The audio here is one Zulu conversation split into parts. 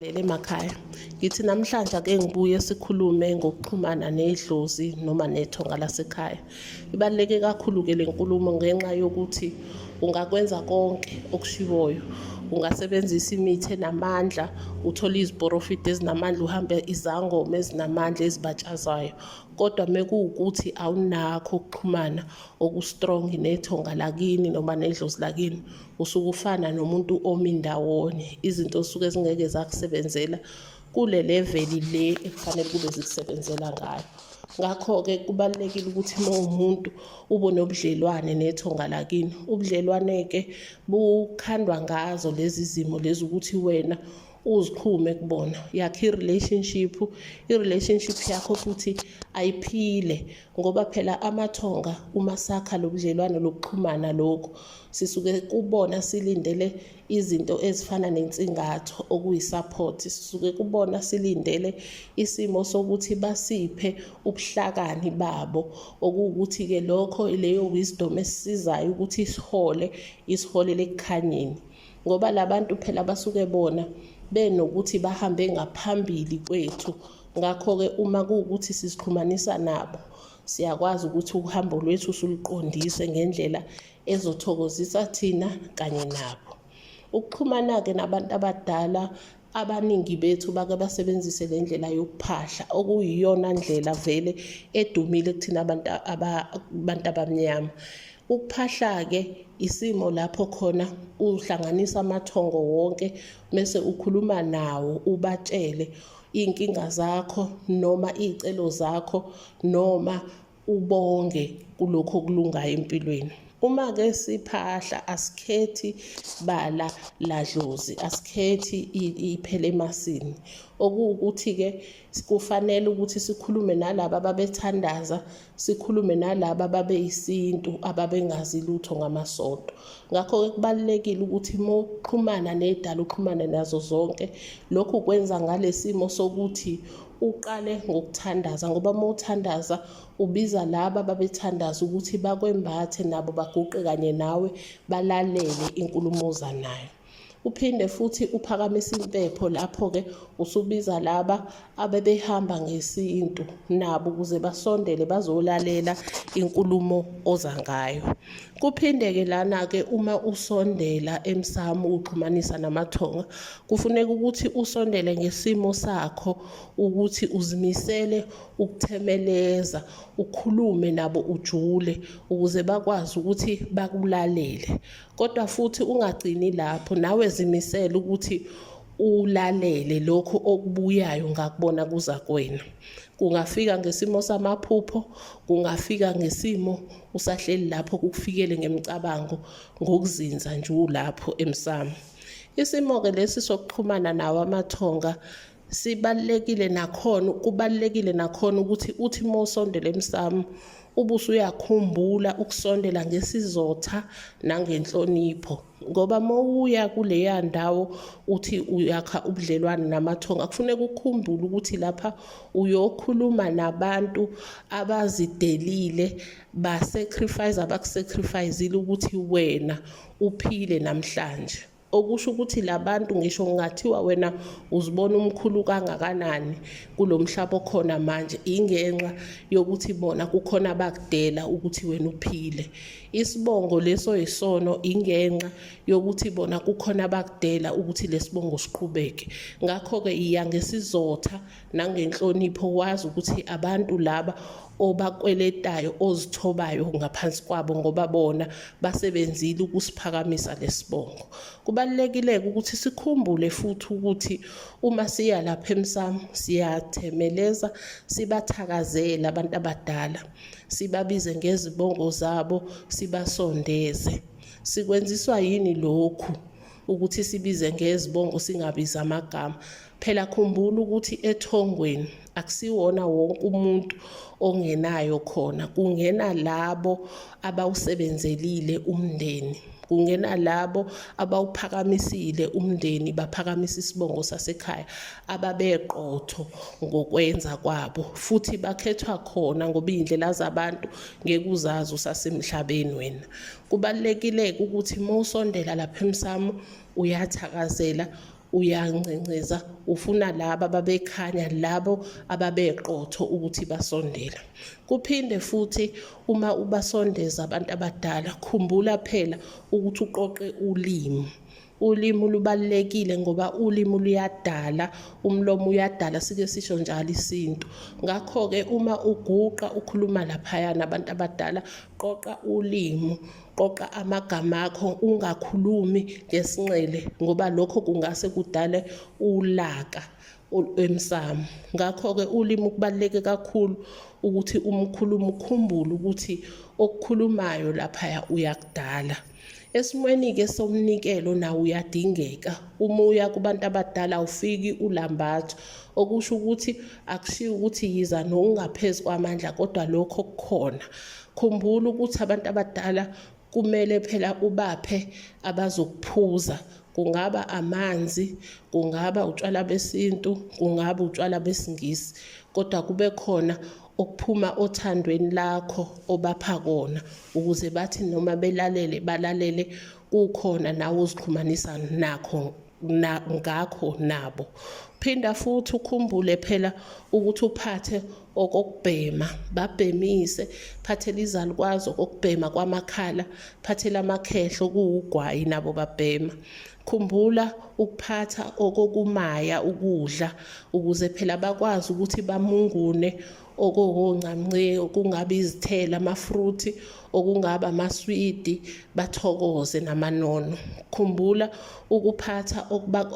Lele makhaya ngithi namhlanje ake ngibuye sikhulume ngokuxhumana nedlozi noma nethonga lasekhaya ibaluleke kakhulu-ke le nkulumo ngenxa yokuthi ungakwenza konke okushiwoyo ungasebenzisa imithi enamandla uthole iziporofidi ezinamandla uhambe izangoma ezinamandla ezibatshazayo kodwa mekuwukuthi awunakho ukuxhumana okustrong nethonga lakini noma nedlozi lakini usuke ufana nomuntu omi ndawonye izinto osuke zingeke zakusebenzela kule leveli le ekufanele kube zikusebenzela ngayo ngakho-ke kubalulekile ukuthi uma uwumuntu ube nobudlelwane nethonga lakini ubudlelwane-ke bukhandwa ngazo lezi zimo lezi ukuthi wena uzixhume kubona yakhe i-relationship i-relationship yakho futhi ayiphile ngoba phela amathonga uma sakha lo budlelwane lokuxhumana lokhu sisuke kubona silindele izinto ezifana nensingatho okuyi-support sisuke kubona silindele isimo sokuthi basiphe ubuhlakani babo okuwukuthi-ke lokho leyo wisdom esisizayo ukuthi isihole isiholele ekukhanyeni ngoba labantu phela basuke bona benokuthi bahambe ngaphambili kwethu ngakho-ke uma kuwukuthi sizixhumanisa nabo siyakwazi ukuthi uhambo lwethu suluqondise ngendlela ezothokozisa thina kanye nabo ukuxhumana-ke nabantu abadala abaningi bethu bake basebenzise le ndlela yokuphahla okuyiyona ndlela vele edumile kuthina abantu abantu abamnyama ukuphahla-ke isimo lapho khona uhlanganisa amathongo wonke mese ukhuluma nawo ubatshele iy'nkinga zakho noma iy'celo zakho noma ubonge kulokho okulungayo empilweni uma ke siphahla asikhethi bala ladlozi asikhethi iphele emasini okuwukuthi ke kufanele ukuthi sikhulume nalabo ababethandaza sikhulume nalabo ababeyisintu ababengazi lutho ngamasonto ngakho ke kubalulekile ukuthi uma uxhumana nedala uxhumane nazo zonke lokhu kwenza ngalesimo sokuthi uqale ngokuthandaza ngoba uma uthandaza ubiza laba babethandaza ukuthi bakwembathe nabo baguqe kanye nawe balalele inkulumo oza nayo uphinde futhi uphakamise impepho lapho-ke usubiza laba abebehamba ngesintu nabo ukuze basondele bazolalela inkulumo oza ngayo kuphinde-ke lana-ke uma usondela emsamu uxhumanisa namathonga Kufuneka ukuthi usondele ngesimo sakho ukuthi uzimisele ukuthemeleza, ukhulume nabo ujule ukuze bakwazi ukuthi bakulalele. Kodwa futhi ungagcini lapho, nawe zimisele ukuthi ulalele lokhu okubuyayo ngakubona kuza kwena. Kungafika ngesimo samaphupho, kungafika ngesimo usahleli lapho kukufikele ngemicabango ngokuzinza nje ulapho emsamo. Isimo-ke lesi sokuxhumana nawo amathonga sibalulekile nakhona kubalulekile nakhona ukuthi uthi uma usondela emsamo ubuso uyakhumbula ukusondela ngesizotha nangenhlonipho ngoba mowuya kuleya ndawo uthi uyakha ubudlelwane namathonga kufuneka ukhumbule ukuthi lapha uyokhuluma nabantu abazidelile basacrifice abakusacrificeile ukuthi wena uphile namhlanje okusho ukuthi labantu ngisho ngingathiwa wena uzibona umkhulu kangakanani kulomhlaba okhona manje ingenxa yokuthi bona kukhona abakudela ukuthi wena uphile isibongo leso yisono ingenxa yokuthi bona kukhona abakudela ukuthi lesibongo siqhubeke ngakho ke iya ngesizotha nangenhlonipho wazi ukuthi abantu laba obakweletayo ozithobayo ngaphansi kwabo ngoba bona basebenzile ukusiphakamisa lesibongo kubalekileke ukuthi sikhumbule futhi ukuthi uma siya lapha emsamo siyathemeleza sibathakazela abantu abadala sibabize ngezibongo zabo sibasondeze sikwenziswa yini lokhu ukuthi sibize ngezibongo singabizi amagama Phela khumbula ukuthi ethongweni akusiwona wonke umuntu ongenayo khona kungena labo abawusebenzelile umndeni kungena labo abawuphakamisile umndeni baphakamisa isibongo sasekhaya ababeqotho ngokwenza kwabo futhi bakhethwa khona ngoba iy'ndlela zabantu ngeke uzazi usasemhlabeni wena kubalulekile-ke ukuthi uma usondela lapha emsamo uyathakazela uyancenceza ufuna laba ababekhanya labo ababeqotho ukuthi basondela kuphinde futhi uma ubasondeza abantu abadala khumbula phela ukuthi uqoqe ulimi ulimi lubalulekile ngoba ulimi luyadala umlomo uyadala sike sisho njalo isintu ngakho-ke uma uguqa ukhuluma laphayana abantu abadala qoqa ulimi qoqa amagama akho ungakhulumi ngesinxele ngoba lokho kungase kudale ulaka emsamo ngakho-ke ulimi kubaluleke kakhulu ukuthi umkhulumi ukhumbule ukuthi okukhulumayo laphaya uyakudala esimweni-ke somnikelo nawo uyadingeka uma uya kubantu abadala awufiki ulambatho okusho ukuthi akushiwo ukuthi yiza nokungaphezu kwamandla kodwa lokho kukhona Khumbula ukuthi abantu abadala kumele phela ubaphe abazokuphuza kungaba amanzi kungaba utshwala besintu kungaba utshwala besingisi kodwa kube khona okuphuma othandweni lakho obapha kona ukuze bathi noma belalele balalele kukhona nawe uzixhumanisa nakho na, ngakho nabo phinda futhi ukhumbule phela ukuthi uphathe okokubhema babhemise phathela izalukwazi okokubhema kwamakhala phathela amakhehlo kuwugwayi nabo babhema khumbula ukuphatha okokumaya ukudla ukuze phela bakwazi ukuthi bamungune okokungamnce okungaba izithelo amafruthi okungaba amaswidi bathokoze namanono khumbula ukuphatha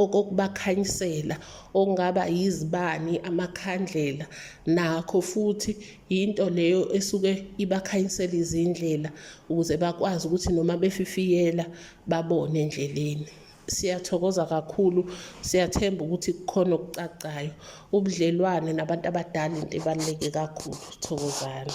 okubakhanyisela okungaba yizibani amakhandlela nakho futhi yinto leyo esuke ibakhanyisela izindlela ukuze bakwazi ukuthi noma befifiyela babone endleleni Siyathokoza kakhulu, siyathemba ukuthi kukhona okucacayo. Ubudlelwane nabantu abadala into ebaluleke kakhulu. Thokozani.